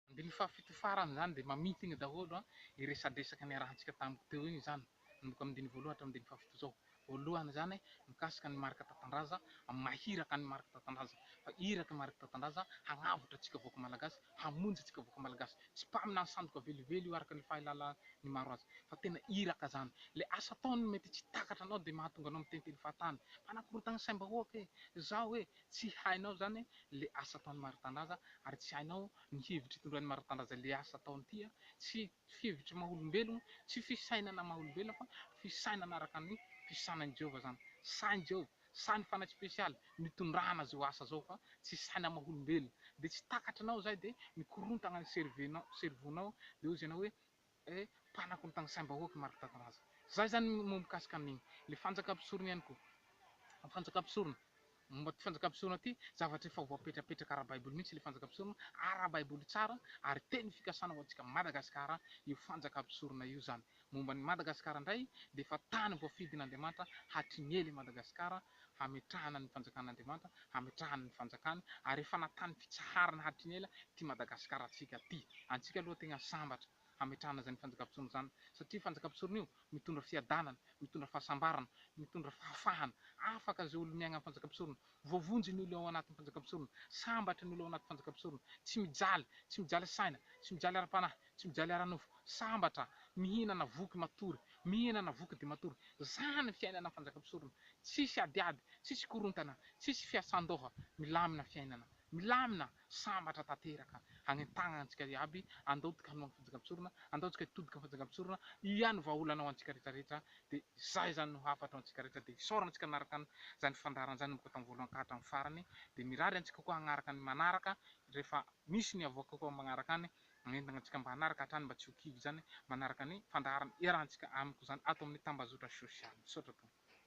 Andininy fahafito farany izany dia mamintigny daholo an, io resadresaka niarahantsika tamiko teo iny izany, manomboka amin'ny andininy voalohany hatramin'ny andininy fahafito izao. Voalohany izany, mikasika an'i Marc Tatandraza, amin'ny maha iraka an'i Marc Tatandraza. Fa irak'i Marc Tatandraza hagnavotra antsika vahoaka Malagasy, hamonjy antsika vahoaka Malagasy. Tsy mpaminany sandoka velively io araka ny fahilalan'ny maro azy, fa tena iraka izany. Ilay asa ataony mety tsy takatra anao dia mahatonga anao miteniteny fahatany, mpanakorontagna saim-bahoaka e! Zao e! Tsy hainao izany ilay asa ataon'i Maritandraza ary tsy hainao ny hevitra itondrain'i Maritandraza ilay asa ataony ity a! Tsy hevitry maha olombelogno, tsy fisainana maha olombelona fa fisainana araka ny fisainan'i Jehovah izany. Sain'i Jehovah, sainy fanahy spesialy nitondrana izao asa izao fa tsy saina maha olombelona. Dia tsy takatrinao izay dia mikorontagna ny cerveau-nao, cerveau-nao, dia hoy izy ianao hoe, Eh, mpanako ny tany saim-bahoaka i Marc Tataraza. Zay zany moa mikasika ny le fanjaka mpisorona ihany koa. Fanjaka mpisorona. Momba ty fanjaka mpisorona ty, zavatra efa voapetrapetraka ara-baiboly mihitsy le fanjaka mpisorona, ara-baiboly tsara ary teny fikasana ho antsika Madagasikara io fanjaka mpisorona io zany. Momba ny Madagasikara ndray dia efa tany voafidin'Andriamanitra hatry ny ela i Madagasikara hametrahana ny fanjakan'Andriamanitra, hametrahany ny fanjakany, ary efa natany fitsaharana hatry ny ela ity Madagasikara antsika ity. Antsika aloha tegna sambatra hametrahana zany fanjakam-pisorona zany satria io fanjakam-pisorona io mitondra fiadanana, mitondra fahasambarana, mitondra fahafahana, afaka zay olo miaigna am fanjakam-pisorona, voavonjy ny olo ao anatin'ny fanjakam-pisorona, sambatra ny olo ao anaty fanjakam-pisorona, tsy mijaly, tsy mijaly saina, tsy mijaly ara-panahy, Tsy mijaly ara-nofo, sambatra, mihinana voky matory, mihinana voky dia matory. Izany ny fiainana Mpanjaka mpisorona. Tsisy adiady, tsisy korontana, tsisy fiasan-doha, milamina fiainana. Milamina, sambatra tanteraka. Hagnentaha antsika iaby, andao tika hanoa ny Fanjaka mpisorona, andao tsika hitodika amin'ny Fanjaka mpisorona, ia no vahaolana ho antsika rehetra rehetra, dia izay izany no hafatra ho antsika rehetra, dia isaorana antsika nanaraka an izany fandaharana izany nanomboka tamin'ny voalohany ka hatramin'ny farany, dia mirary antsika koa hagnaraka ny manaraka rehefa misy ny havoaka koa magnaraka any. Manentana antsika mba hanaraka hatrany mba tsy ho kivy izany manaraka ny fandaharana iarahantsika amiko izany ato amin'ny tambazotra sosialy. Misaotra tompoko.